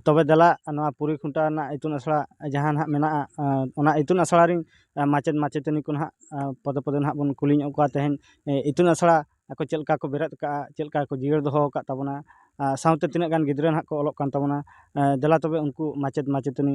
ᱛᱚᱵᱮ ᱫᱮᱞᱟ ᱱᱚᱣᱟ ᱯᱩᱨᱤ ᱠᱷᱩᱱᱴᱟ ᱨᱮᱱᱟᱜ ᱤᱛᱩᱱ ᱟᱥᱲᱟ ᱡᱟᱦᱟᱸ ᱱᱟᱦᱟᱜ ᱢᱮᱱᱟᱜᱼᱟ ᱚᱱᱟ ᱤᱛᱩᱱ ᱟᱥᱲᱟ ᱨᱮᱱ ᱢᱟᱪᱮᱫ ᱢᱟᱪᱮᱛᱟᱹᱱᱤ ᱠᱚ ᱱᱟᱦᱟᱜ ᱯᱚᱫᱮ ᱯᱚᱫᱮ ᱱᱟᱦᱟᱜ ᱵᱚᱱ ᱠᱩᱞᱤ ᱧᱚᱜ ᱠᱚᱣᱟ ᱛᱮᱦᱮᱧ ᱤᱛᱩᱱ ᱟᱥᱲᱟ ᱟᱠᱚ ᱪᱮᱫ ᱞᱮᱠᱟ ᱠᱚ ᱵᱮᱨᱮᱫ ᱟᱠᱟᱫᱼᱟ ᱪᱮᱫ ᱞᱮᱠᱟ ᱠᱚ ᱡᱤᱭᱟᱹᱲ ᱫᱚᱦᱚ ᱟᱠᱟᱫ ᱛᱟᱵᱚᱱᱟ ᱥᱟᱶᱛᱮ ᱛᱤᱱᱟᱹᱜ ᱜᱟᱱ ᱜᱤᱫᱽᱨᱟᱹ ᱱᱟᱦᱟᱜ ᱠᱚ ᱚᱞᱚᱜ ᱠᱟᱱ ᱛᱟᱵᱚᱱᱟ ᱫᱮᱞᱟ ᱛᱚᱵᱮ ᱩᱱᱠᱩ ᱢᱟᱪᱮᱫ ᱢᱟᱪᱮᱛᱟᱹᱱᱤ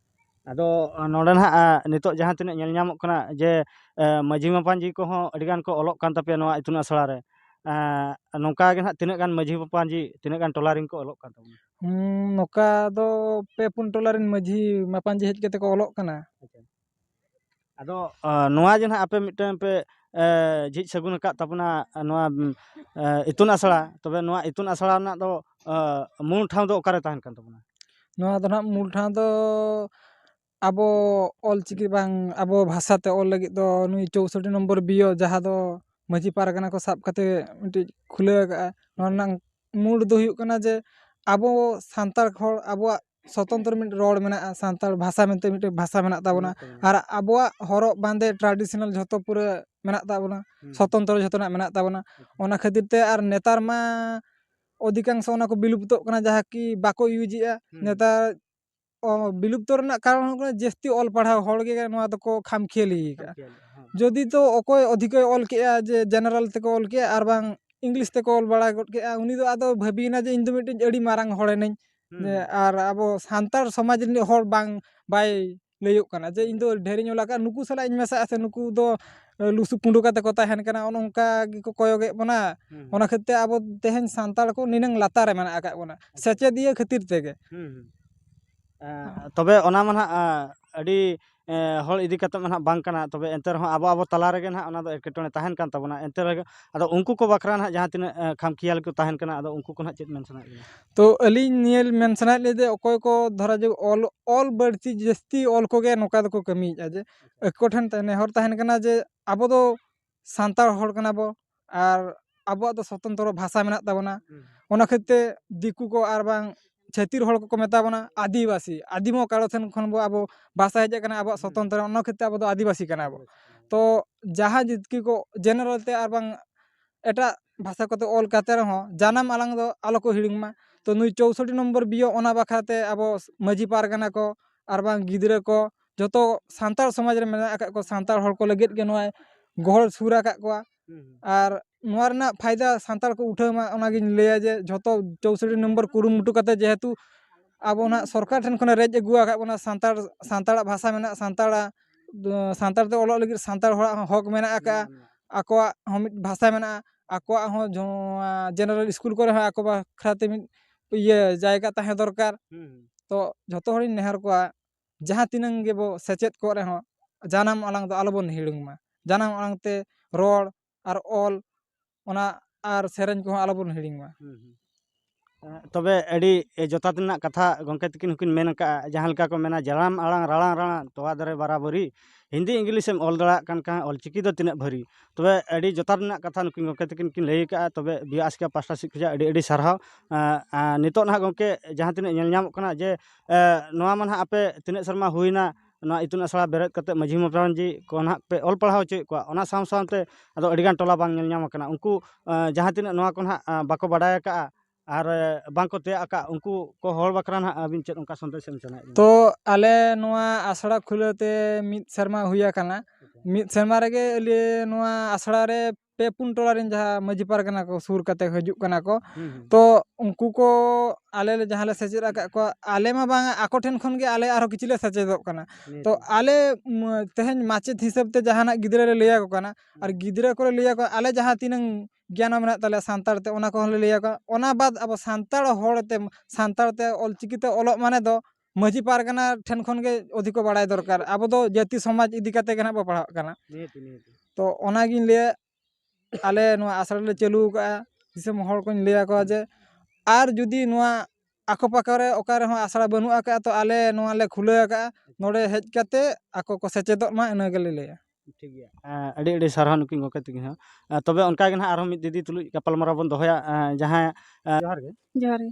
ᱟᱫᱚ ᱱᱚᱰᱮ ᱱᱟᱦᱟᱜ ᱱᱤᱛᱚᱜ ᱡᱟᱦᱟᱸ ᱛᱤᱱᱟᱹᱜ ᱧᱮᱞ ᱧᱟᱢᱚᱜ ᱠᱟᱱᱟ ᱡᱮ ᱢᱟᱹᱡᱷᱤ ᱢᱟᱯᱟᱡᱤ ᱠᱚᱦᱚᱸ ᱟᱹᱰᱤ ᱜᱟᱱ ᱠᱚ ᱚᱞᱚᱜ ᱠᱟᱱ ᱛᱟᱯᱮᱭᱟ ᱱᱚᱣᱟ ᱤᱛᱩᱱ ᱟᱥᱲᱟ ᱨᱮ ᱱᱚᱝᱠᱟ ᱜᱮ ᱱᱟᱦᱟᱜ ᱛᱤᱱᱟᱹᱜ ᱜᱟᱱ ᱢᱟᱹᱡᱷᱤ ᱢᱟᱯᱟᱡᱤ ᱛᱤᱱᱟᱹᱜ ᱜᱟᱱ ᱴᱚᱞᱟ ᱨᱮᱱ ᱠᱚ ᱚᱞᱚᱜ ᱠᱟᱱ ᱛᱟᱵᱚᱱᱟ ᱱᱚᱝᱠᱟ ᱫᱚ ᱯᱮ ᱯᱩᱱ ᱴᱚᱞᱟ ᱨᱮᱱ ᱢᱟᱹᱡᱷᱤ ᱢᱟᱯᱟᱡᱤ ᱦᱮᱡ ᱠᱟᱛᱮᱫ ᱠᱚ ᱚᱞᱚᱜ ᱠᱟᱱᱟ ᱟᱫᱚ ᱱᱚᱣᱟ ᱡᱮ ᱱᱟᱜ ᱟᱯᱮ ᱢᱤᱫᱴᱮᱱ ᱯᱮ ᱡᱷᱤᱡ ᱥᱟᱹᱜᱩᱱ ᱟᱠᱟᱫ ᱛᱟᱵᱚᱱᱟ ᱱᱚᱣᱟ ᱤᱛᱩᱱ ᱟᱥᱲᱟ ᱛᱚᱵᱮ ᱱᱚᱣᱟ ᱤᱛᱩᱱ ᱟᱥᱲᱟ ᱨᱮᱱᱟᱜ ᱫᱚ ᱢᱩᱞ ᱴᱷᱟᱶ ᱫᱚ ᱚᱠᱟᱨᱮ ᱛᱟᱦᱮᱱ ᱠᱟᱱ ᱛᱟᱵᱚᱱᱟ ᱱᱚᱣᱟ ᱫᱚ ᱱᱟᱜ ᱢᱩᱞ ᱴᱷᱟᱶ ᱫᱚ ᱟᱵᱚ ᱚᱞ ᱪᱤᱠᱤ ᱵᱟᱝ ᱟᱵᱚ ᱵᱷᱟᱥᱟᱛᱮ ᱚᱞ ᱞᱟᱹᱜᱤᱫ ᱫᱚ ᱱᱩᱭ ᱪᱳᱥᱳᱴᱴᱤ ᱱᱚᱢᱵᱚᱨ ᱵᱤᱭᱳ ᱡᱟᱦᱟᱸ ᱫᱚ ᱢᱟᱹᱡᱷᱤ ᱯᱟᱨᱜᱟᱱᱟ ᱠᱚ ᱥᱟᱵ ᱠᱟᱛᱮᱫ ᱢᱤᱫᱴᱤᱡ ᱠᱷᱩᱞᱟᱹᱣ ᱟᱠᱟᱫᱼᱟ ᱱᱚᱣᱟ ᱨᱮᱱᱟᱝ ᱢᱩᱬ ᱫᱚ ᱦᱩᱭᱩᱜ ᱠᱟᱱᱟ ᱡᱮ ᱟᱵᱚ ᱥᱟᱱᱛᱟᱲ ᱦᱚᱲ ᱟᱵᱚᱣᱟᱜ ᱥᱚᱛᱚᱱᱛᱨᱚ ᱢᱤᱫᱴᱮᱱ ᱨᱚᱲ ᱢᱮᱱᱟᱜᱼᱟ ᱥᱟᱱᱛᱟᱲ ᱵᱷᱟᱥᱟ ᱢᱮᱱᱛᱮ ᱢᱤᱫᱴᱮᱱ ᱵᱷᱟᱥᱟ ᱢᱮᱱᱟᱜ ᱛᱟᱵᱚᱱᱟ ᱟᱨ ᱟᱵᱚᱣᱟᱜ ᱦᱚᱨᱚᱜ ᱵᱟᱸᱫᱮ ᱴᱨᱟᱰᱤᱥᱚᱱᱟᱞ ᱡᱷᱚᱛᱚ ᱯᱩᱨᱟᱹ ᱢᱮᱱᱟᱜ ᱛᱟᱵᱚᱱᱟ ᱥᱚᱛᱚᱱᱛᱨᱚ ᱡᱷᱚᱛᱚᱱᱟᱜ ᱢᱮᱱᱟᱜ ᱛᱟᱵᱚᱱᱟ ᱚᱱᱟ ᱠᱷᱟᱹᱛᱤᱨ ᱛᱮ ᱟᱨ ᱱᱮᱛᱟᱨ ᱢᱟ ᱚᱫᱷᱤᱠᱟᱝᱥᱚ ᱚᱱᱟ ᱠᱚ ᱵᱤᱞᱩᱯᱛᱚᱜ ᱠᱟᱱᱟ ᱡᱟᱦᱟᱸ ᱠᱤ ᱵᱟᱠᱚ ᱤᱭᱩᱡᱮᱜᱼᱟ ᱱᱮᱛᱟᱨ ᱵᱤᱞᱩᱯᱛᱚ ᱨᱮᱱᱟᱜ ᱠᱟᱨᱚᱱ ᱦᱩᱭᱩᱜ ᱠᱟᱱᱟ ᱡᱟᱹᱥᱛᱤ ᱚᱞ ᱯᱟᱲᱦᱟᱣ ᱦᱚᱲ ᱜᱮ ᱱᱚᱣᱟ ᱫᱚᱠᱚ ᱠᱷᱟᱢ ᱠᱷᱮᱭᱟᱞᱤ ᱠᱟᱜᱼᱟ ᱡᱩᱫᱤ ᱛᱚ ᱚᱠᱚᱭ ᱚᱫᱷᱤᱠᱚᱭ ᱚᱞ ᱠᱮᱜᱼᱟ ᱡᱮ ᱡᱮᱱᱟᱨᱮᱞ ᱛᱮᱠᱚ ᱚᱞ ᱠᱮᱜᱼᱟ ᱟᱨ ᱵᱟᱝ ᱤᱝᱞᱤᱥ ᱛᱮᱠᱚ ᱚᱞ ᱵᱟᱲᱟ ᱜᱚᱫ ᱠᱮᱜᱼᱟ ᱩᱱᱤ ᱫᱚ ᱟᱫᱚ ᱵᱷᱟᱹᱵᱤᱭᱮᱱᱟ ᱡᱮ ᱤᱧ ᱫᱚ ᱢᱤᱫᱴᱤᱡ ᱟᱹᱰᱤ ᱢᱟᱨᱟᱝ ᱦᱚᱲ ᱮᱱᱟᱹᱧ ᱟᱨ ᱟᱵᱚ ᱥᱟᱱᱛᱟᱲ ᱥᱚᱢᱟᱡᱽ ᱨᱤᱱᱤᱡ ᱦᱚᱲ ᱵᱟᱝ ᱵᱟᱭ ᱞᱟᱹᱭᱟᱹᱜ ᱠᱟᱱᱟ ᱡᱮ ᱤᱧ ᱫᱚ ᱰᱷᱮᱨ ᱤᱧ ᱚᱞ ᱠᱟᱜᱼᱟ ᱱᱩᱠᱩ ᱥᱟᱞᱟᱜ ᱤᱧ ᱢᱮᱥᱟᱜᱼᱟ ᱥᱮ ᱱᱩᱠᱩ ᱫᱚ ᱞᱩᱥᱩ ᱯᱩᱸᱰᱩ ᱠᱟᱛᱮ ᱠᱚ ᱛᱟᱦᱮᱱ ᱠᱟᱱᱟ ᱚᱱᱮ ᱚᱱᱠᱟ ᱜᱮᱠᱚ ᱠᱚᱭᱚᱜᱮᱫ ᱵᱚᱱᱟ ᱚᱱᱟ ᱠᱷᱟᱹᱛᱤᱨ ᱛᱮ ᱟᱵᱚ ᱛᱮᱦᱮᱧ ᱥᱟᱱᱛᱟᱲ ᱠᱚ ᱱᱤᱱᱟᱹᱝ ᱞᱟᱛᱟᱨ ᱨᱮ ᱢᱮᱱᱟᱜ ᱟᱠᱟᱫ ᱵᱚᱱᱟ ᱥᱮᱪᱮᱫᱤᱭᱟᱹ ᱠᱷᱟᱹᱛᱤᱨ ᱛᱮᱜᱮ ᱛᱚᱵᱮ ᱚᱱᱟ ᱢᱟ ᱱᱟᱜ ᱟᱹᱰᱤ ᱦᱚᱲ ᱤᱫᱤ ᱠᱟᱛᱮ ᱢᱟ ᱱᱟᱜ ᱵᱟᱝ ᱠᱟᱱᱟ ᱛᱚᱵᱮ ᱮᱱᱛᱮ ᱨᱮᱦᱚᱸ ᱟᱵᱚ ᱟᱵᱚ ᱛᱟᱞᱟ ᱨᱮᱜᱮ ᱱᱟᱜ ᱚᱱᱟ ᱫᱚ ᱮᱴᱠᱮᱴᱚᱬᱮ ᱛᱟᱦᱮᱱ ᱠᱟᱱ ᱛᱟᱵᱚᱱᱟ ᱮᱱᱛᱮ ᱨᱮᱦᱚᱸ ᱟᱫᱚ ᱩᱱᱠᱩ ᱠᱚ ᱵᱟᱠᱷᱨᱟ ᱱᱟᱜ ᱡᱟᱦᱟᱸ ᱛᱤᱱᱟᱹᱜ ᱠᱷᱟᱢᱠᱷᱮᱭᱟᱞᱤ ᱠᱚ ᱛᱟᱦᱮᱱ ᱠᱟᱱᱟ ᱟᱫᱚ ᱩᱱᱠᱩ ᱠᱚ ᱱᱟᱜ ᱪᱮᱫ ᱢᱮᱱ ᱥᱟᱱᱟᱭᱮᱫ ᱵᱮᱱᱟ ᱛᱚ ᱟᱹᱞᱤᱧ ᱱᱤᱭᱟᱹ ᱢᱮᱱ ᱥᱟᱱᱟᱭᱮᱫ ᱞᱤᱧᱟᱹ ᱡᱮ ᱚᱠᱚᱭ ᱠᱚ ᱫᱷᱚᱨᱚ ᱡᱮ ᱚᱞ ᱚᱞ ᱵᱟᱹᱲᱛᱤ ᱡᱟᱹᱥᱛᱤ ᱚᱞ ᱠᱚᱜᱮ ᱱᱚᱝᱠᱟ ᱫᱚᱠᱚ ᱠᱟᱹᱢᱤᱭᱮᱫᱼᱟ ᱡᱮ ᱟᱠᱚ ᱴᱷᱮᱱ ᱱᱮᱦᱚᱨ ᱛᱟᱦᱮᱱ ᱠᱟᱱᱟ ᱡᱮ ᱟᱵᱚ ᱫᱚ ᱥᱟᱱᱛᱟᱲ ᱦᱚᱲ ᱠᱟᱱᱟ ᱵᱚᱱ ᱟᱨ ᱟᱵᱚᱣᱟᱜ ᱫᱚ ᱥᱚᱛᱚᱱᱛᱨᱚ ᱵᱷᱟᱥᱟ ᱢᱮᱱᱟᱜ ᱛᱟᱵᱚᱱᱟ ᱚᱱᱟ ᱠᱷᱟᱹᱛᱤᱨ ᱛᱮ ᱫᱤᱠᱩ ᱠᱚ ᱟᱨ ᱵᱟᱝ ᱪᱷᱟᱹᱛᱤᱠ ᱦᱚᱲ ᱠᱚᱠᱚ ᱢᱮᱛᱟ ᱵᱚᱱᱟ ᱟᱹᱫᱤᱵᱟᱹᱥᱤ ᱟᱹᱫᱤᱢ ᱠᱟᱨᱚ ᱴᱷᱮᱱ ᱠᱷᱚᱱ ᱵᱚᱱ ᱟᱵᱚ ᱵᱷᱟᱥᱟ ᱦᱮᱡ ᱠᱟᱱᱟ ᱟᱵᱚᱣᱟᱜ ᱥᱚᱛᱚᱱᱛᱨᱚ ᱚᱱᱟ ᱠᱷᱟᱹᱛᱤᱨ ᱛᱮ ᱟᱵᱚ ᱫᱚ ᱟᱹᱫᱤᱵᱟᱹᱥᱤ ᱠᱟᱱᱟ ᱵᱚᱱ ᱛᱚ ᱡᱟᱦᱟᱸ ᱡᱟᱹᱛᱤ ᱠᱚ ᱡᱮᱱᱟᱨᱮᱞ ᱛᱮ ᱟᱨ ᱵᱟᱝ ᱮᱴᱟᱜ ᱵᱷᱟᱥᱟ ᱠᱚᱛᱮ ᱚᱞ ᱠᱟᱛᱮ ᱨᱮᱦᱚᱸ ᱡᱟᱱᱟᱢ ᱟᱲᱟᱝ ᱫᱚ ᱟᱞᱚ ᱠᱚ ᱦᱤᱲᱤᱧ ᱢᱟ ᱛᱚ ᱱᱩᱭ ᱪᱳᱥᱳᱴᱴᱤ ᱱᱚᱢᱵᱚᱨ ᱵᱤᱭᱳ ᱚᱱᱟ ᱵᱟᱠᱷᱨᱟ ᱛᱮ ᱟᱵᱚ ᱢᱟᱹᱡᱷᱤ ᱯᱟᱨᱜᱟᱱᱟ ᱠᱚ ᱟᱨ ᱵᱟᱝ ᱜᱤᱫᱽᱨᱟᱹ ᱠᱚ ᱡᱚᱛᱚ ᱥᱟᱱᱛᱟᱲ ᱥᱚᱢᱟᱡᱽ ᱨᱮ ᱢᱮᱱᱟᱜ ᱟᱠᱟᱫ ᱠᱚᱣᱟ ᱥᱟᱱᱛᱟᱲ ᱦᱚᱲ ᱠᱚ ᱞᱟᱹᱜᱤᱫ ᱜᱮ ᱱᱚᱣᱟᱭ ᱜᱚᱦᱚᱲ ᱥᱩᱨ ᱟᱠᱟᱫ ᱠᱚᱣᱟ ᱟᱨ ᱱᱚᱣᱟ ᱨᱮᱱᱟᱜ ᱯᱷᱟᱭᱫᱟ ᱥᱟᱱᱛᱟᱲ ᱠᱚ ᱩᱴᱷᱟᱹᱣ ᱢᱟ ᱚᱱᱟᱜᱤᱧ ᱞᱟᱹᱭᱟ ᱡᱮ ᱡᱷᱚᱛᱚ ᱪᱳᱥᱳᱴᱴᱤ ᱱᱚᱢᱵᱚᱨ ᱠᱩᱨᱩᱢᱩᱴᱩ ᱠᱟᱛᱮᱫ ᱡᱮᱦᱮᱛᱩ ᱟᱵᱚ ᱱᱟᱦᱟᱜ ᱥᱚᱨᱠᱟᱨ ᱴᱷᱮᱱ ᱠᱷᱚᱱᱮ ᱨᱮᱡ ᱟᱹᱜᱩ ᱟᱠᱟᱫ ᱵᱚᱱᱟ ᱥᱟᱱᱛᱟᱲ ᱥᱟᱱᱛᱟᱲᱟᱜ ᱵᱷᱟᱥᱟ ᱢᱮᱱᱟᱜᱼᱟ ᱥᱟᱱᱛᱟᱲᱟᱜ ᱥᱟᱱᱛᱟᱲ ᱛᱮ ᱚᱞᱚᱜ ᱞᱟᱹᱜᱤᱫ ᱥᱟᱱᱛᱟᱲ ᱦᱚᱲᱟᱜ ᱦᱚᱸ ᱦᱚᱸᱠ ᱢᱮᱱᱟᱜ ᱟᱠᱟᱫᱼᱟ ᱟᱠᱚᱣᱟᱜ ᱦᱚᱸ ᱢᱤᱫ ᱵᱷᱟᱥᱟ ᱢᱮᱱᱟᱜᱼᱟ ᱟᱠᱚᱣᱟᱜ ᱦᱚᱸ ᱱᱚᱣᱟ ᱡᱮᱱᱟᱨᱮᱞ ᱥᱠᱩᱞ ᱠᱚᱨᱮ ᱦᱚᱸ ᱟᱠᱚ ᱵᱟᱠᱷᱨᱟᱛᱮ ᱢᱤᱫ ᱤᱭᱟᱹ ᱡᱟᱭᱜᱟ ᱛᱟᱦᱮᱸ ᱫᱚᱨᱠᱟᱨ ᱛᱚ ᱡᱷᱚᱛᱚ ᱦᱚᱲᱤᱧ ᱱᱮᱦᱚᱨ ᱟᱠᱚᱣᱟ ᱡᱟᱦᱟᱸ ᱛᱤᱱᱟᱹᱝ ᱜᱮᱵᱚ ᱥᱮᱪᱮᱫ ᱠᱚᱜ ᱨᱮᱦᱚᱸ ᱡᱟᱱᱟᱢ ᱟᱲᱟᱝ ᱫᱚ ᱟᱞᱚ ᱵᱚᱱ ᱦᱤᱲᱤᱧ ᱢᱟ ᱡᱟᱱᱟᱢ ᱟᱲᱟᱝ ᱛᱮ ᱨᱚᱲ ᱟᱨ ᱚᱞ ᱚᱱᱟ ᱟᱨ ᱥᱮᱨᱮᱧ ᱠᱚᱦᱚᱸ ᱟᱞᱚ ᱵᱚᱱ ᱦᱤᱲᱤᱧ ᱢᱟ ᱛᱚᱵᱮ ᱟᱹᱰᱤ ᱡᱚᱛᱷᱟᱛ ᱨᱮᱱᱟᱜ ᱠᱟᱛᱷᱟ ᱜᱚᱢᱠᱮ ᱛᱟᱹᱠᱤᱱ ᱦᱚᱸᱠᱤᱱ ᱢᱮᱱ ᱟᱠᱟᱫᱼᱟ ᱡᱟᱦᱟᱸ ᱞᱮᱠᱟ ᱠᱚ ᱢᱮᱱᱟ ᱡᱟᱱᱟᱢ ᱟᱲᱟᱝ ᱨᱟᱲᱟᱝ ᱨᱟᱲᱟᱝ ᱛᱚᱣᱟ ᱫᱟᱨᱮ ᱵᱟᱨᱟᱵᱟᱹᱨᱤ ᱦᱤᱱᱫᱤ ᱤᱝᱞᱤᱥ ᱮᱢ ᱚᱞ ᱫᱟᱲᱮᱭᱟᱜ ᱠᱟᱱ ᱠᱷᱟᱱ ᱚᱞ ᱪᱤᱠᱤ ᱫᱚ ᱛᱤᱱᱟᱹᱜ ᱵᱷᱟᱹᱨᱤ ᱛᱚᱵᱮ ᱟᱹᱰᱤ ᱡᱚᱛᱷᱟᱛ ᱨᱮᱱᱟᱜ ᱠᱟᱛᱷᱟ ᱱᱩᱠᱤᱱ ᱜᱚᱢᱠᱮ ᱛᱟᱹᱠᱤᱱ ᱠᱤᱱ ᱞᱟᱹᱭ ᱟᱠᱟᱫᱼᱟ ᱛᱚᱵᱮ ᱵᱤ ᱟᱥᱠᱮ ᱯᱟᱥᱴᱟ ᱥᱮᱫ ᱠᱷᱚᱱᱟᱜ ᱟᱹᱰᱤ ᱟᱹᱰᱤ ᱥᱟᱨᱦᱟᱣ ᱱᱤᱛᱚᱜ ᱱᱟᱦᱟᱜ ᱜᱚᱢᱠᱮ ᱡᱟᱦᱟᱸ ᱛᱤᱱᱟᱹᱜ ᱧᱮᱞ ᱧᱟᱢᱚᱜ ᱠᱟᱱᱟ ᱡᱮ ᱱᱚᱣᱟ ᱢᱟ ᱱᱟᱦᱟᱜ ᱟᱯᱮ ᱛᱤᱱᱟᱹᱜ ᱥᱮᱨᱢᱟ ᱦᱩᱭᱱᱟ ᱱᱚᱣᱟ ᱤᱛᱩᱱ ᱟᱥᱲᱟ ᱵᱮᱨᱮᱫ ᱠᱟᱛᱮᱫ ᱢᱟᱹᱡᱷᱤ ᱢᱟᱯᱟᱡᱷᱤ ᱠᱚ ᱱᱟᱦᱟᱜ ᱯᱮ ᱚᱞ ᱯᱟᱲᱦᱟᱣ ᱦᱚᱪᱚᱭᱮᱫ ᱠᱚᱣᱟ ᱚᱱᱟ ᱥᱟᱶ ᱥᱟᱶᱛᱮ ᱟᱫᱚ ᱟᱹᱰᱤᱜᱟᱱ ᱴᱚᱞᱟ ᱵᱟᱝ ᱧᱮᱞ ᱧᱟᱢ ᱠᱟᱱᱟ ᱩᱱᱠᱩ ᱡᱟᱦᱟᱸ ᱛᱤᱱᱟᱹᱜ ᱱᱚᱣᱟ ᱠᱚ ᱱᱟᱦᱟᱜ ᱵᱟᱠᱚ ᱵᱟᱰᱟᱭ ᱠᱟᱜᱼᱟ ᱟᱨ ᱵᱟᱝᱠᱚ ᱛᱮᱭᱟᱜ ᱠᱟᱜᱼᱟ ᱩᱱᱠᱩ ᱠᱚ ᱦᱚᱲ ᱵᱟᱠᱷᱨᱟ ᱱᱟᱦᱟᱜ ᱟᱹᱵᱤᱱ ᱪᱮᱫ ᱚᱱᱠᱟ ᱥᱟᱸᱫᱮᱥ ᱮᱢ ᱥᱟᱱᱟᱭᱮᱫ ᱵᱮᱱᱟ ᱛᱚ ᱟᱞᱮ ᱱᱚᱣᱟ ᱟᱥᱲᱟ ᱠᱷᱩᱞᱟᱹᱣ ᱛᱮ ᱢᱤᱫ ᱥᱮᱨᱢᱟ ᱦᱩᱭ ᱟᱠᱟᱱᱟ ᱢᱤᱫ ᱥᱮᱨᱢᱟ ᱨᱮᱜᱮ ᱟᱞᱮ ᱱᱚᱣᱟ ᱟᱥᱲᱟ ᱨᱮ ᱯᱮ ᱯᱩᱱ ᱴᱚᱞᱟ ᱨᱮᱱ ᱡᱟᱦᱟᱸ ᱢᱟᱺᱡᱷᱤ ᱯᱟᱨᱜᱟᱱᱟ ᱠᱚ ᱥᱩᱨ ᱠᱟᱛᱮ ᱦᱤᱡᱩᱜ ᱠᱟᱱᱟ ᱠᱚ ᱛᱚ ᱩᱱᱠᱩ ᱠᱚ ᱟᱞᱮ ᱞᱮ ᱡᱟᱦᱟᱸ ᱞᱮ ᱥᱮᱪᱮᱫ ᱟᱠᱟᱫ ᱠᱚᱣᱟ ᱟᱞᱮ ᱢᱟ ᱵᱟᱝᱟ ᱟᱠᱚ ᱴᱷᱮᱱ ᱠᱷᱚᱱ ᱜᱮ ᱟᱞᱮ ᱟᱨᱦᱚᱸ ᱠᱤᱪᱷᱩ ᱞᱮ ᱥᱮᱪᱮᱫᱚᱜ ᱠᱟᱱᱟ ᱛᱚ ᱟᱞᱮ ᱛᱮᱦᱮᱧ ᱢᱟᱪᱮᱫ ᱦᱤᱥᱟᱹᱵ ᱛᱮ ᱡᱟᱦᱟᱱᱟᱜ ᱜᱤᱫᱽᱨᱟᱹ ᱞᱮ ᱞᱟᱹᱭ ᱟᱠᱚ ᱠᱟᱱᱟ ᱟᱨ ᱜᱤᱫᱽᱨᱟᱹ ᱠᱚᱞᱮ ᱞᱟᱹᱭ ᱟᱠᱚᱣᱟ ᱟᱞᱮ ᱡᱟᱦᱟᱸ ᱛᱤᱱᱟᱹᱝ ᱜᱮᱭᱟᱱ ᱢᱮᱱᱟᱜ ᱛᱟᱞᱮᱭᱟ ᱥᱟᱱᱛᱟᱲ ᱛᱮ ᱚᱱᱟ ᱠᱚᱦᱚᱸ ᱞᱮ ᱞᱟᱹᱭ ᱟᱠᱚᱣᱟ ᱚᱱᱟ ᱵᱟᱫ ᱟᱵᱚ ᱥᱟᱱᱛᱟᱲ ᱦᱚᱲ ᱛᱮ ᱥᱟᱱᱛᱟᱲ ᱛᱮ ᱚᱞᱪᱤᱠᱤ ᱛᱮ ᱚᱞᱚᱜ ᱢᱟᱱᱮ ᱫᱚ ᱢᱟᱺᱡᱷᱤ ᱯᱟᱨᱜᱟᱱᱟ ᱴᱷᱮᱱ ᱠᱷᱚᱱ ᱜᱮ ᱚᱫᱷᱤᱠᱚ ᱵᱟᱲᱟᱭ ᱫᱚᱨᱠᱟᱨ ᱟᱵᱚ ᱫᱚ ᱡᱟᱹᱛᱤ ᱥᱚᱢᱟᱡᱽ ᱤᱫᱤ ᱠᱟᱛᱮ ᱜᱮ ᱱᱟᱦᱟᱜ ᱵᱚ ᱯᱟᱲᱦᱟᱜ ᱠᱟᱱᱟ ᱛᱚ ᱚᱱᱟᱜᱤᱧ ᱞᱟᱹᱭᱟ ᱟᱞᱮ ᱱᱚᱣᱟ ᱟᱥᱲᱟ ᱞᱮ ᱪᱟᱹᱞᱩ ᱟᱠᱟᱫᱼᱟ ᱫᱤᱥᱚᱢ ᱦᱚᱲ ᱠᱚᱧ ᱞᱟᱹᱭ ᱟᱠᱚᱣᱟ ᱡᱮ ᱟᱨ ᱡᱩᱫᱤ ᱱᱚᱣᱟ ᱟᱠᱚ ᱯᱟᱠᱚ ᱨᱮ ᱚᱠᱟ ᱨᱮᱦᱚᱸ ᱟᱥᱲᱟ ᱵᱟᱹᱱᱩᱜ ᱟᱠᱟᱫᱼᱟ ᱛᱚ ᱟᱞᱮ ᱱᱚᱣᱟ ᱞᱮ ᱠᱷᱩᱞᱟᱹᱣ ᱟᱠᱟᱫᱼᱟ ᱱᱚᱰᱮ ᱦᱮᱡ ᱠᱟᱛᱮ ᱟᱠᱚ ᱠᱚ ᱥᱮᱪᱮᱫᱚᱜ ᱢᱟ ᱤᱱᱟᱹ ᱜᱮᱞᱮ ᱞᱟᱹᱭᱟ ᱴᱷᱤᱠ ᱜᱮᱭᱟ ᱟᱹᱰᱤ ᱟᱹᱰᱤ ᱥᱟᱨᱦᱟᱣ ᱱᱩᱠᱤᱱ ᱜᱚᱢᱠᱮ ᱛᱟᱹᱠᱤᱱ ᱦᱚᱸ ᱛᱚᱵᱮ ᱚᱱᱠᱟ ᱜᱮ ᱱᱟᱦᱟᱜ ᱟᱨᱦᱚᱸ ᱢᱤᱫ ᱫᱤᱫᱤ ᱛᱩᱞᱩᱡ ᱜᱟᱯᱟᱞᱢᱟᱨᱟᱣ ᱵᱚᱱ ᱫᱚᱦᱚᱭᱟ ᱡᱟᱦᱟᱸᱭ ᱡᱚᱦᱟᱨ ᱜᱮ ᱡᱚᱦᱟᱨ ᱜᱮ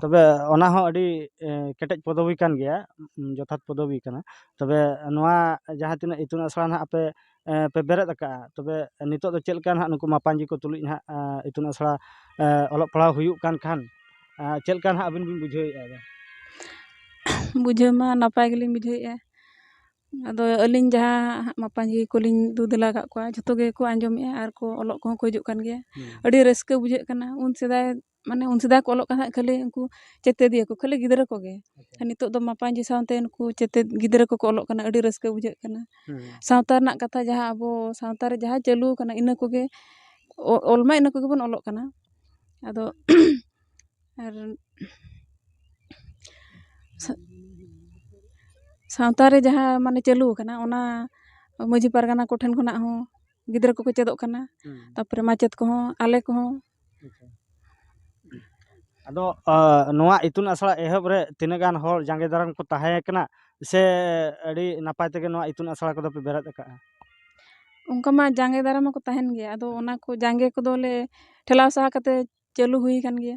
ᱛᱚᱵᱮ ᱚᱱᱟ ᱦᱚᱸ ᱟᱹᱰᱤ ᱠᱮᱴᱮᱡ ᱯᱚᱫᱚᱵᱤ ᱠᱟᱱ ᱜᱮᱭᱟ ᱡᱚᱛᱷᱟᱛ ᱯᱚᱫᱚᱵᱤ ᱠᱟᱱᱟ ᱛᱚᱵᱮ ᱱᱚᱣᱟ ᱡᱟᱦᱟᱸ ᱛᱤᱱᱟᱹᱜ ᱤᱛᱩᱱ ᱟᱥᱲᱟ ᱱᱟᱜ ᱟᱯᱮ ᱯᱮ ᱵᱮᱨᱮᱫ ᱟᱠᱟᱜᱼᱟ ᱛᱚᱵᱮ ᱱᱤᱛᱳᱜ ᱫᱚ ᱪᱮᱫ ᱞᱮᱠᱟ ᱱᱟᱜ ᱱᱩᱠᱩ ᱢᱟᱯᱟᱡᱤ ᱠᱚ ᱛᱩᱞᱩᱡ ᱱᱟᱜ ᱤᱛᱩᱱ ᱟᱥᱲᱟ ᱚᱞᱚᱜ ᱯᱟᱲᱦᱟᱣ ᱦᱩᱭᱩᱜ ᱠᱟᱱ ᱠᱷᱟᱱ ᱪᱮᱫ ᱞᱮᱠᱟ ᱱᱟᱜ ᱟᱵᱤᱱ ᱵᱤᱱ ᱵᱩᱡᱷᱟᱹᱣᱮᱜᱼᱟ ᱵᱩᱡᱷᱟᱹᱣ ᱢᱟ ᱱᱟᱯᱟᱭ ᱜᱮᱞᱤᱧ ᱵᱩᱡᱷᱟᱹᱣᱮᱜᱼᱟ ᱟᱫᱚ ᱟᱹᱞᱤᱧ ᱡᱟᱦᱟᱸ ᱢᱟᱯᱟᱡᱤ ᱠᱚᱞᱤᱧ ᱫᱩ ᱫᱮᱞᱟ ᱠᱟᱜ ᱠᱚᱣᱟ ᱡᱷᱚᱛᱚ ᱜᱮᱠᱚ ᱟᱸᱡᱚᱢᱮᱜᱼᱟ ᱟᱨ ᱠᱚ ᱚᱞᱚᱜ ᱠᱚᱦᱚᱸ ᱠᱚ ᱦᱤᱡᱩᱜ ᱠᱟᱱ ᱜᱮᱭᱟ ᱟᱹᱰᱤ ᱨᱟᱹᱥᱠᱟᱹ ᱵᱩᱡᱷᱟᱹᱜ ᱠᱟᱱᱟ ᱩᱱ ᱥᱮᱫᱟᱭ ᱢᱟᱱᱮ ᱩᱱ ᱥᱮᱫᱟᱭ ᱠᱚ ᱚᱞᱚᱜ ᱠᱟᱱ ᱛᱟᱦᱮᱸᱫ ᱠᱷᱟᱹᱞᱤ ᱩᱱᱠᱩ ᱪᱮᱛᱮᱫᱤᱭᱟᱹ ᱠᱚ ᱠᱷᱟᱹᱞᱤ ᱜᱤᱫᱽᱨᱟᱹ ᱠᱚᱜᱮ ᱟᱨ ᱱᱤᱛᱳᱜ ᱫᱚ ᱢᱟᱯᱟᱡᱤ ᱥᱟᱶᱛᱮ ᱩᱱᱠᱩ ᱪᱮᱛᱮᱫ ᱜᱤᱫᱽᱨᱟᱹ ᱠᱚᱠᱚ ᱚᱞᱚᱜ ᱠᱟᱱᱟ ᱟᱹᱰᱤ ᱨᱟᱹᱥᱠᱟᱹ ᱵᱩᱡᱷᱟᱹᱜ ᱠᱟᱱᱟ ᱥᱟᱶᱛᱟ ᱨᱮᱱᱟᱜ ᱠᱟᱛᱷᱟ ᱡᱟᱦᱟᱸ ᱟᱵᱚ ᱥᱟᱶᱛᱟ ᱨᱮ ᱡᱟᱦᱟᱸ ᱪᱟᱹᱞᱩ ᱟᱠᱟᱱᱟ ᱤᱱᱟᱹ ᱠᱚᱜᱮ ᱚᱞ ᱢᱟ ᱤᱱᱟᱹ ᱠᱚᱜᱮ ᱵᱚᱱ ᱚᱞᱚᱜ ᱠᱟᱱᱟ ᱟᱫᱚ ᱟᱨ ᱥᱟᱶᱛᱟ ᱨᱮ ᱡᱟᱦᱟᱸ ᱢᱟᱱᱮ ᱪᱟᱹᱞᱩ ᱟᱠᱟᱱᱟ ᱚᱱᱟ ᱢᱟᱹᱡᱷᱤ ᱯᱟᱨᱜᱟᱱᱟ ᱠᱚᱴᱷᱮᱱ ᱠᱷᱚᱱᱟᱜ ᱦᱚᱸ ᱜᱤᱫᱽᱨᱟᱹ ᱠᱚᱠᱚ ᱪᱮᱫᱚᱜ ᱠᱟᱱᱟ ᱛᱟᱨᱯᱚᱨᱮ ᱢᱟᱪᱮᱫ ᱠᱚᱦᱚᱸ ᱟᱞᱮ ᱠᱚᱦᱚᱸ ᱟᱫᱚ ᱱᱚᱣᱟ ᱤᱛᱩᱱ ᱟᱥᱲᱟ ᱮᱦᱚᱵ ᱨᱮ ᱛᱤᱱᱟᱹᱜ ᱜᱟᱱ ᱦᱚᱲ ᱡᱟᱸᱜᱮ ᱫᱟᱨᱟᱢ ᱠᱚ ᱛᱟᱦᱮᱸᱭᱟᱠᱟᱱᱟ ᱥᱮ ᱟᱹᱰᱤ ᱱᱟᱯᱟᱭ ᱛᱮᱜᱮ ᱱᱚᱣᱟ ᱤᱛᱩᱱ ᱟᱥᱲᱟ ᱠᱚᱫᱚ ᱯᱮ ᱵᱮᱨᱮᱫ ᱟᱠᱟᱫᱼᱟ ᱚᱱᱠᱟ ᱢᱟ ᱡᱟᱸᱜᱮ ᱫᱟᱨᱟᱢ ᱢᱟᱠᱚ ᱛᱟᱦᱮᱱ ᱜᱮᱭᱟ ᱟᱫᱚ ᱚᱱᱟ ᱠᱚ ᱡᱟᱸᱜᱮ ᱠᱚᱫᱚᱞᱮ ᱴᱷᱮᱞᱟᱣ ᱥᱟᱦᱟ ᱠᱟᱛᱮ ᱪᱟᱹᱞᱩ ᱦᱩᱭᱟᱠᱟᱱ ᱜᱮᱭᱟ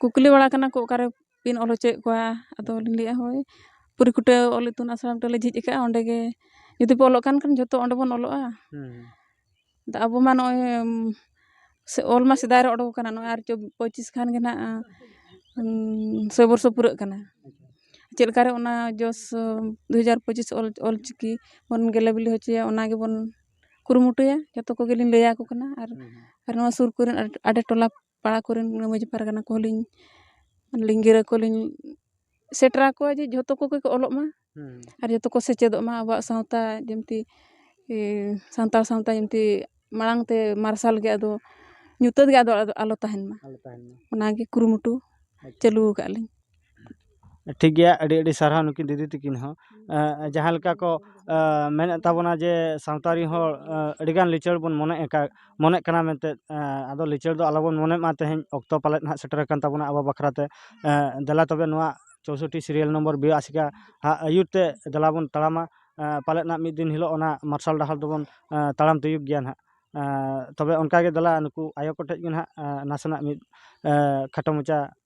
ᱠᱩᱠᱞᱤ ᱵᱟᱲᱟ ᱠᱟᱱᱟ ᱠᱚ ᱚᱠᱟᱨᱮ ᱵᱤᱱ ᱚᱞ ᱦᱚᱪᱚᱭᱮᱫ ᱠᱚᱣᱟ ᱟᱫᱚ ᱞᱤᱧ ᱞᱟᱹᱭᱮᱜᱼᱟ ᱦᱳᱭ ᱯᱩᱨᱤᱠᱩᱴᱟᱹ ᱚᱞ ᱤᱛᱩᱱ ᱟᱥᱲᱟ ᱢᱤᱫᱴᱟᱝ ᱞᱮ ᱡᱷᱤᱡ ᱟᱠᱟᱫᱼᱟ ᱚᱸᱰᱮ ᱜᱮ ᱡᱩᱫᱤ ᱯᱮ ᱚᱞᱚᱜ ᱠᱟᱱ ᱠᱷᱟᱱ ᱡᱚᱛᱚ ᱚᱸᱰᱮ ᱵᱚᱱ ᱚᱞᱚᱜᱼᱟ ᱟᱫᱚ ᱟᱵᱚ ᱢᱟ ᱱᱚᱜᱼᱚᱭ ᱚᱞ ᱢᱟ ᱥᱮᱫᱟᱭ ᱨᱮ ᱚᱰᱚᱠ ᱟᱠᱟᱱᱟ ᱱᱚᱜᱼᱚᱭ ᱟᱨ ᱯᱚᱸᱪᱤᱥ ᱠᱷᱟᱱ ᱜᱮ ᱱᱟᱜ ᱥᱚᱭ ᱵᱚᱨᱥᱚ ᱯᱩᱨᱟᱹᱜ ᱠᱟᱱᱟ ᱪᱮᱫ ᱞᱮᱠᱟᱨᱮ ᱚᱱᱟ ᱡᱚᱥ ᱫᱩ ᱦᱟᱡᱟᱨ ᱯᱚᱸᱪᱤᱥ ᱚᱞ ᱚᱞ ᱪᱤᱠᱤ ᱵᱚᱱ ᱜᱮᱞᱮ ᱵᱤᱞᱤ ᱦᱚᱪᱚᱭᱟ ᱚᱱᱟ ᱜᱮᱵᱚᱱ ᱠᱩᱨᱩᱢᱩᱴᱩᱭᱟ ᱡᱚᱛᱚ ᱠᱚᱜᱮᱞᱤᱧ ᱞᱟᱹᱭᱟᱠᱚ ᱠᱟᱱᱟ ᱟᱨ ᱟᱨ ᱱᱚᱣᱟ ᱥᱩᱨ ᱠᱚᱨᱮᱱ ᱟᱰᱮ ᱴᱚᱞᱟ ᱯᱟᱲᱟ ᱠᱚᱨᱮᱱ ᱢᱟᱹᱡᱷᱤ ᱯᱟᱨᱜᱟᱱᱟ ᱠᱚᱦᱚᱸ ᱞᱤᱧ ᱞᱤᱧ ᱜᱤᱨᱟᱹ ᱠᱚᱞᱤᱧ ᱥᱮᱴᱮᱨ ᱟᱠᱚᱣᱟ ᱡᱮ ᱡᱷᱚᱛᱚ ᱠᱚᱜᱮ ᱠᱚ ᱚᱞᱚᱜ ᱢᱟ ᱟᱨ ᱡᱚᱛᱚ ᱠᱚ ᱥᱮᱪᱮᱫᱚᱜ ᱢᱟ ᱟᱵᱚᱣᱟᱜ ᱥᱟᱶᱛᱟ ᱡᱤᱱᱛᱤ ᱥᱟᱱᱛᱟᱲ ᱥᱟᱶᱛᱟ ᱡᱤᱱᱛᱤ ᱢᱟᱲᱟᱝ ᱛᱮ ᱢᱟᱨᱥᱟᱞ ᱜᱮ ᱟᱫᱚ ᱧᱩᱛᱟᱹᱛ ᱜᱮ ᱟᱫᱚ ᱟᱞᱚ ᱛᱟᱦᱮᱱ ᱢᱟ ᱚᱱᱟᱜᱮ ᱠᱩᱨᱩᱢᱩᱴᱩ ᱪᱟᱹᱞᱩ ᱟᱠᱟᱫ ᱞᱤᱧ ᱴᱷᱤᱠ ᱜᱮᱭᱟ ᱟᱹᱰᱤ ᱟᱹᱰᱤ ᱥᱟᱨᱦᱟᱣ ᱱᱩᱠᱤᱱ ᱫᱤᱫᱤ ᱛᱟᱹᱠᱤᱱ ᱦᱚᱸ ᱡᱟᱦᱟᱸ ᱞᱮᱠᱟ ᱠᱚ ᱢᱮᱱᱮᱫ ᱛᱟᱵᱚᱱᱟ ᱡᱮ ᱥᱟᱶᱛᱟ ᱨᱮᱱ ᱦᱚᱲ ᱟᱹᱰᱤ ᱜᱟᱱ ᱞᱤᱪᱟᱹᱲ ᱵᱚᱱ ᱢᱚᱱᱮᱜ ᱟᱠᱟᱫ ᱢᱚᱱᱮᱜ ᱠᱟᱱᱟ ᱢᱮᱱᱛᱮ ᱟᱫᱚ ᱞᱤᱪᱟᱹᱲ ᱫᱚ ᱟᱞᱚ ᱵᱚᱱ ᱢᱚᱱᱮᱜ ᱢᱟ ᱛᱮᱦᱮᱧ ᱚᱠᱛᱚ ᱯᱟᱞᱮᱫ ᱱᱟᱦᱟᱜ ᱥᱮᱴᱮᱨ ᱟᱠᱟᱱ ᱛᱟᱵᱚᱱᱟ ᱟᱵᱚ ᱵᱟᱠᱷᱨᱟ ᱛᱮ ᱫᱮᱞᱟ ᱛᱚᱵᱮ ᱱᱚᱣᱟ ᱪᱳᱥᱳᱴᱴᱤ ᱥᱤᱨᱤᱭᱟᱞ ᱱᱚᱢᱵᱚᱨ ᱵᱤᱭᱮ ᱟᱥᱮᱠᱟ ᱟᱜ ᱟᱹᱭᱩᱨ ᱛᱮ ᱫᱮᱞᱟ ᱵᱚᱱ ᱛᱟᱲᱟᱢᱟ ᱯᱟᱞᱮᱫ ᱱᱟᱦᱟᱜ ᱢᱤᱫ ᱫᱤᱱ ᱦᱤᱞᱳᱜ ᱚᱱᱟ ᱢᱟᱨᱥᱟᱞ ᱰᱟᱦᱟᱨ ᱫᱚᱵᱚᱱ ᱛᱟᱲᱟᱢ ᱛᱤᱭᱳᱜᱽ ᱜᱮᱭᱟ ᱱᱟᱦᱟᱜ ᱛᱚᱵᱮ ᱚᱱᱠᱟ ᱜᱮ ᱫᱮᱞᱟ ᱱᱩᱠᱩ ᱟᱭᱳ ᱠᱚᱴᱷᱮᱱ ᱜᱮ ᱱᱟᱦᱟᱜ ᱱᱟᱥᱮᱱᱟᱜ ᱢᱤᱫ ᱠᱷᱟᱴᱚ ᱢᱟᱪᱷᱟ